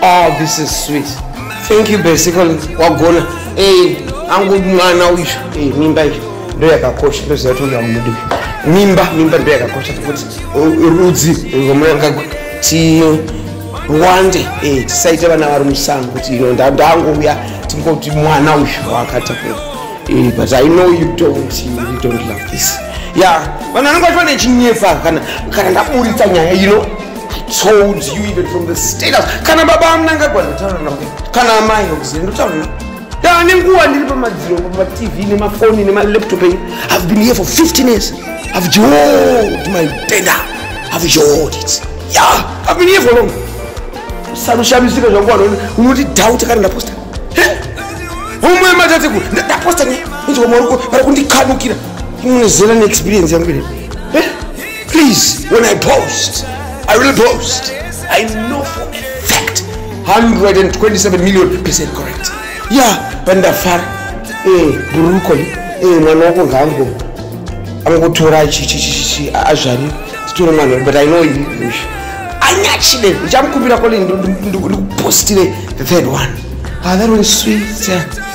Oh, this is sweet. Thank you basically. Wagona. Hey, angu mwana uyu. Hey, mimba iyo. Ndio yakakosha. Ndio zati uyu amudi. Mimba, mimba ndio yakakosha kuti rudzi ngomanga ti wande eh tisaita vana vari musango kuti ino ndangu uya tingoti mwana uyu wakatapura. Eh, but I know you don't you don't love this. Yeah, vana vangu vane chinyefa kana kana ndaburitsa nyaya ino. You know? told you even from the status kana baba amuna angagwa ndotaura navo kana amai okuzira ndotaura navo daa nenguva ndiri pamadziro pamatv nemafoni nemalaptop enyu have been here for 15 years have jod my denda have jod it ya have been here for long sarushamisika zvangu vanoni unoti doubt kana ndaposta umwe matatekuru ndaposta ne inzwa mwaruko vari kundikhanukira imune zera neexperience yangu ine Please, when I post, I will post. I know for a fact 127 million percent correct. Yeah, pandafara eh buruko eh mwana wako ngango angotora chichichichi azvari titore mwana but I know you. Anyachide, ndichamukumbira kole ndikupostire the third one. Ah, that one is sweet. Yeah.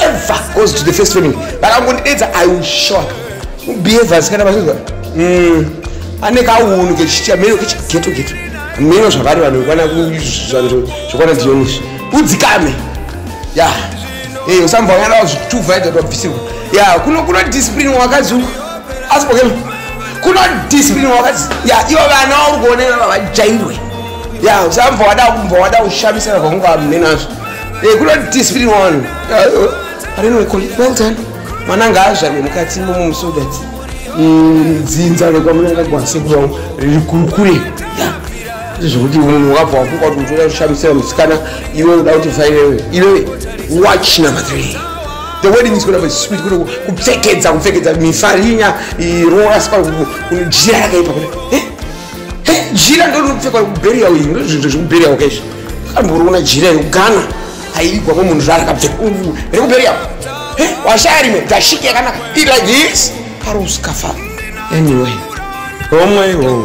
ever goes to the first family vakangondidedza i will shock behavior asikana vazvinzwa hmm. ane kaunhu kechiameno kechigeto geto ameno zvavari vanhu vekwana zvekwana dionizvi udzikame ya eh, usamvanyana zvituvaida twabvisirwa ya kuno kuno discipline wakadzi uku asi pokema kuno discipline wakadzi ya ivo vana uri kuonera vavajairwe ya usamva wada kumva wada kushamisana kwakungava munenazvo Hey, good on this video one. I don't know, call it well done. Mwana ngaazvarwe mukati momo so that mm, dzinza rekwamuna rakwasekura riri kukure. Yeah. Zvekuti munhu wakabva wafuka kuti utoda kushamisira musikana iwe unoda kuti vairewe. Iwe watch number 3. The wedding is going to be sweet. Kuno kupfekedza kupfekedza mifarinya irora spa kuno jira rakaipa kuno. Eh? Eh, jira ndoripfekwa kubheriya uyu ndozvinhu zvekubheriya wakaizvi. akamborona jira yekugana aivigwa ko munhu zvarakabveka rekuberi yako washaya rimwe gashiki yakanaka it like this karoskafa anyway homwe hoo